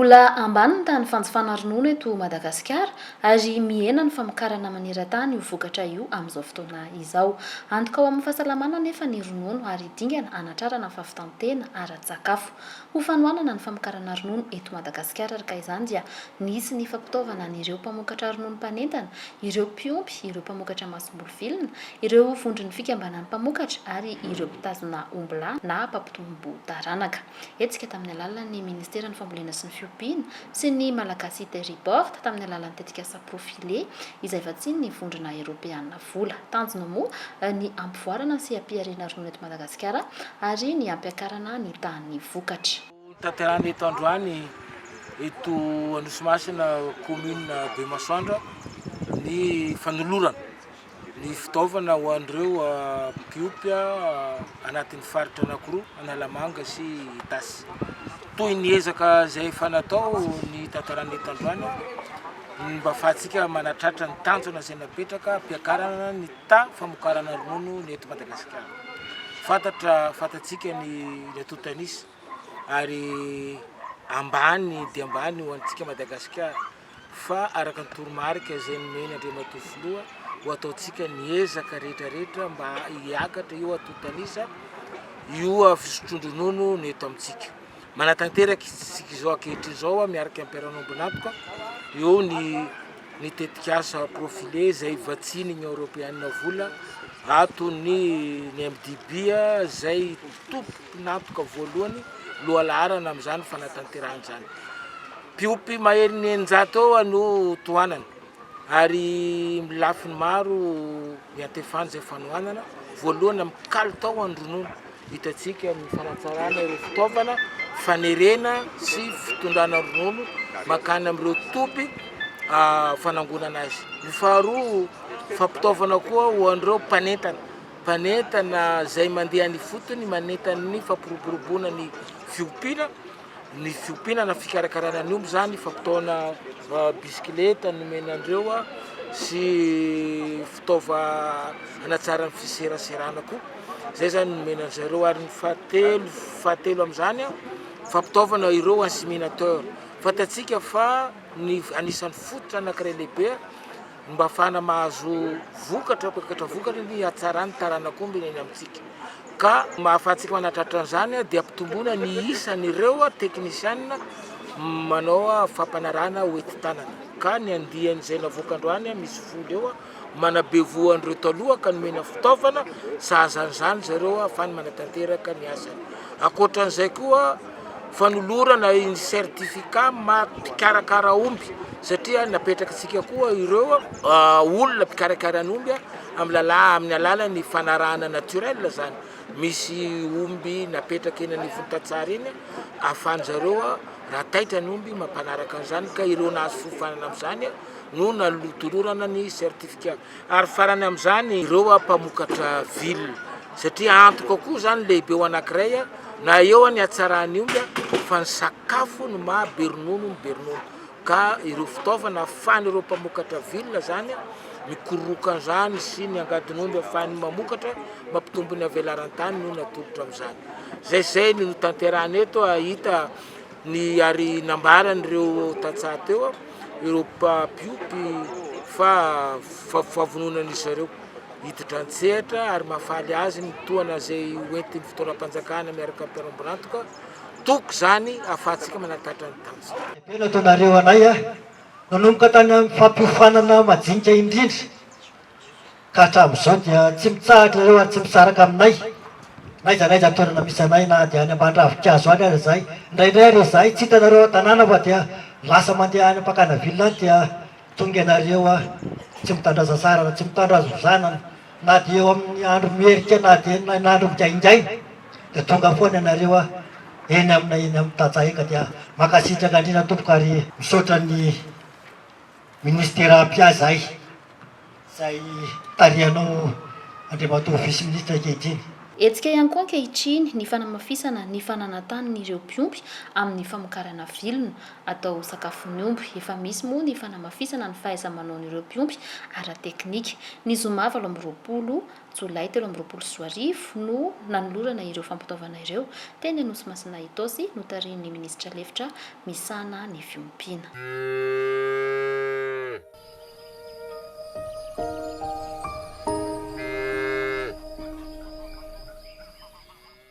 Mbola ambany ny tahan'ny fanjifana ronono eto Madagasikara ary mihena ny famokarana maneran-tany io vokatra io amin'izao fotoana izao. Antoka ho amin'ny fahasalamana anefa ny ronono ary dingana hanatrarana fahavitan-tena ara-tsakafo. Ho fanohanana ny famokarana ronono eto Madagasikara arka izany dia nisy ny fampitaovana an'ireo mpamokatra ronono mpanentana, ireo mpiompy, ireo mpamokatra masomboly vilona, ireo vondron'ny fikambanan'ny mpamokatra ary ireo mpitazona ombilà na mpampitombo taranaka. Hetsika tamin'ny alalan'ny Ministeran'ny Fambolena sy ny Fiompiana sy ny Malagasy Terriboard tamin'ny alalan'ny tetikasa Profile izay vatsian'ny Vondrona Eropeana. vola. Tanjona moa ny hampivoarana sy hampiharena ronono eto Madagasikara ary ny hampiakarana ny tahan'ny vokatra. Hotanterahina eto androany eto Anosimasina commune Bemasoandra ny fanolorana ny fitaovana ho an'ireo mpiompy. anatin'ny faritra anankiroa, Analamanga sy Itasy. Toy ny ezaka izay efa natao ny tantaran'ny etan-drano, ny mba fahantsika manatratra ny tanjona izay napetraka hampiakarana ny ta famokarana ronono ny eto Madagasikara. Fantatra fantatsika ny reto tanisa ary ambany dia ambany ho antsika Madagasikara. fa araka ny toromarika izay nomen' Andriamatoa Filoha ho ataontsika ny ezaka rehetra rehetra mba hiakatra io antontanisa io fisotroan-dronono no eto amintsika. Manatanteraka isika izao ankehitriny izao miaraka amin'ny mpiara-miombon'antoka eo ny ny tetikasa profile izay vatsian'ny Union Européenne vola ato ny ny MDB izay tompo Mpinampoka voalohany lohalaharana amin'izany fanatanterahana izany. Mpiompy maherin'ny eninjato eo no tohanana ary lafiny maro iantefana izay fanohanana. Voalohany amin'ny kalitao an'ny ronono, hitantsika ny fanatsarana ireo fitaovana fanerena sy fitondrana ronono makany amin'ireo toby ah, fanangonana azy. Ny faharoa, fampitaovana koa ho an'ireo mpanentana. Mpanentana izay mandeha any ifotony manentana ny fampiroboroboana ny fiompiana, ny fiompiana na fikarakarana ny omby izany, fampitaona bisikileta nomena an'ireo sy fitaova hanatsara ny fiseraserana koa, izay izany nomena an'i zareo ary ny fahatelo fahatelo amin'izany fampitaovana ireo inséminateur, fantatsika fa ny anisan'ny fototra anankiray lehibe. Ny mba afahana mahazo vokatra, poketra vokatra ny hatsaran'ny taranak'omby ny eny amintsika. Ka mahafahantsika manatratra an'izany dia ampitomboina ny isan'ireo teknisianina manao fampanarahana hoenti-tanana. Ka ny andian'izay navoaka androany misy folo eo manabevoho an'ireo taloha ka nomena fitaovana sahaza an'izany zareo ahafahany manatanteraka ny asany. Ankoatra an'izay koa, fanolorana ny certificat maha mpikarakara omby satria napetrakantsika koa ireo olona mpikarakara ny omby amin'ny lala amin'ny alalan'ny fanarahana naturel zany misy omby napetraka eny anivon'ny tantsaha eny ahafahan'ny zareo raha taitra ny omby mampanaraka an'izany ka ireo nahazo fiofanana amin'izany no nalotolorana ny certificat Ary farany amin'izany ireo mpamokatra villa, satria antoka koa izany lehibe ho anankiray na eo ny hatsaran'ny omby fa ny sakafo no maha be ronono ny be ronono, ka ireo fitaovana ahafan'ireo mpamokatra villa izany mikororoka an'izany sy ny angadin'omby ahafahany mamokatra mampitombo ny havelaran-tany no natolotra amin'izany, izay izay no notanterahina eto hahita. Ny ary nambaran'ireo tantsaha teo, ireo mpiompy fa fahavononan'izy zareo hiditra an-tsehatra ary mahafaly azy ny tohana izay hoentin'ny fitaoram-panjakana miaraka amin'ny mpanao bilantoka, toky izany ahafahantsika manatatra ny tantsaha. Be nataonareo anay a! Nanomboka tany amin'ny fampiofanana majinika indrindra. ka hatramin'izao dia tsy mitsahatra ireo ary tsy misaraka aminay n'aiza n'aiza toerana misy anay na dia any amban-dravin-kazo any aza izahay, indraindray ary izahay tsy hitanareo ao an-tanàna fa dia lasa mandeha any am-pakana ville any dia tonga ianareo a! tsy mitandrà sasàra na tsy mitandrà zozànana na dia eo amin'ny andro mierika na dia eny na andro migaingaina dia tonga foana ianareo a! eny aminay eny amin'ny tantsaha eny ka dia mankasitraka indrindra tompoko ary misaotra ny Minisitera mpia zay, zay tarihanao Andriamatoa Vice Ministra ankehitriny. Hetsika ihany koa ankehitriny ny fanamafisana ny fananantanin'ireo mpiompy amin'ny famokarana vilona atao ho sakafon'ny omby. Efa misy moa ny fanamafisana ny fahaiza-manaon'ireo mpiompy ara-teknika. Ny zoma valo amby roapolo. Jolay telo amby roapolo sy roa arivo no nanolorana ireo fampitaovana ireo, teny Anosimasina Itaosy, notarihin'ny minisitra lefitra misahana ny fiompiana.